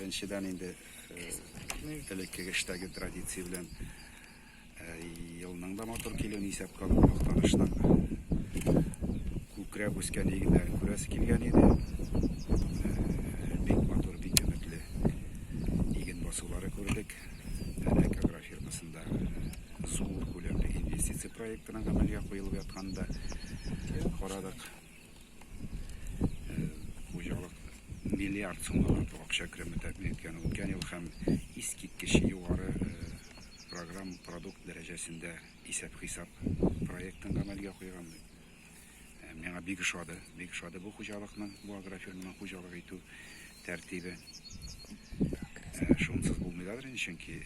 Беренчедән инде элекке эштәге традиция белән елның да матур килүен исәпкә алып мактаныштан күкрәп үскән игеннәрен күрәсе килгән иде. Бик матур, бик өметле иген басулары күрдек. Әнә Кагра фирмасында зур күләмле инвестиция проектының гамәлгә куелып ятканда карадык. Хуҗалык миллиард сумлы акча кереме тәкъдим иткән үткән ел һәм искиткеч югары программ продукт дәрәҗәсендә исәп-хисап проектын гамәлгә куйган. Миңа бик ошады, бик ошады бу хуҗалыкның, бу агрофирманың хуҗалык итү тәртибе. Шунсыз булмый да, чөнки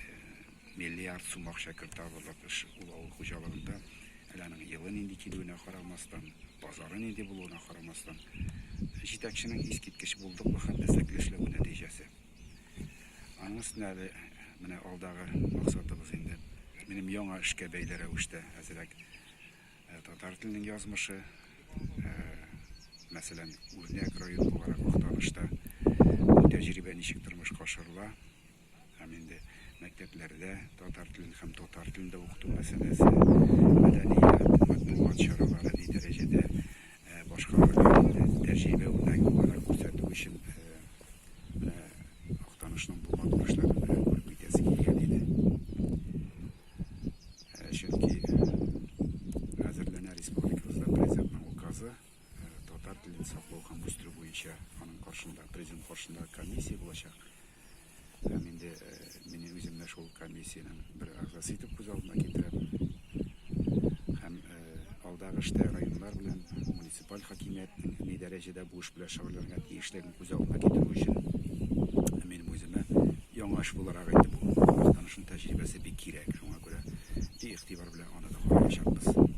Миллиард сум акча кертабызлык эш ул авыл хуҗалыгында. Әле аның елы нинди килүенә карамастан, базары нинди булуына карамастан, җитәкченең искиткеч булдыклы һәм эзлекле эшләве нәтиҗәсе. Аның өстенә әле менә алдагы максатыбыз инде, минем яңа эшкә бәйле рәвештә әзрәк татар теленең язмышы, мәсәлән, үрнәк район буларак Актанышта бу тәҗрибә ничек тормышка ашырыла, Һәм инде мәктәпләрдә татар телен һәм татар телендә укыту мәсьәләсе, мәдәният, матбугат чаралары ни дәрәҗәдә э, башкарылган э, тәҗрибә үрнәге буларак күрсәтү өчен э, Актанышның булган уңышларын күреп китәсе килгән иде. Чөнки хәзерләнә республикабызда президентның указы татар телен саклау һәм үстерү буенча аның каршында президент каршында комиссия булачак. Һәм инде мине үземне шул комиссиянең бер әгъзасы итеп күз алдына китерәм. Һәм алдагы эштә районнар белән муниципаль хакимиятнең ни дәрәҗәдә бу эш белән шөгыльләнергә тиешлеген күз алдына китерү өчен мин үземә яңа эш буларак инде бу вакытта тәҗрибәсе бик кирәк. Шуңа күрә бик игътибар белән аны да караячакбыз.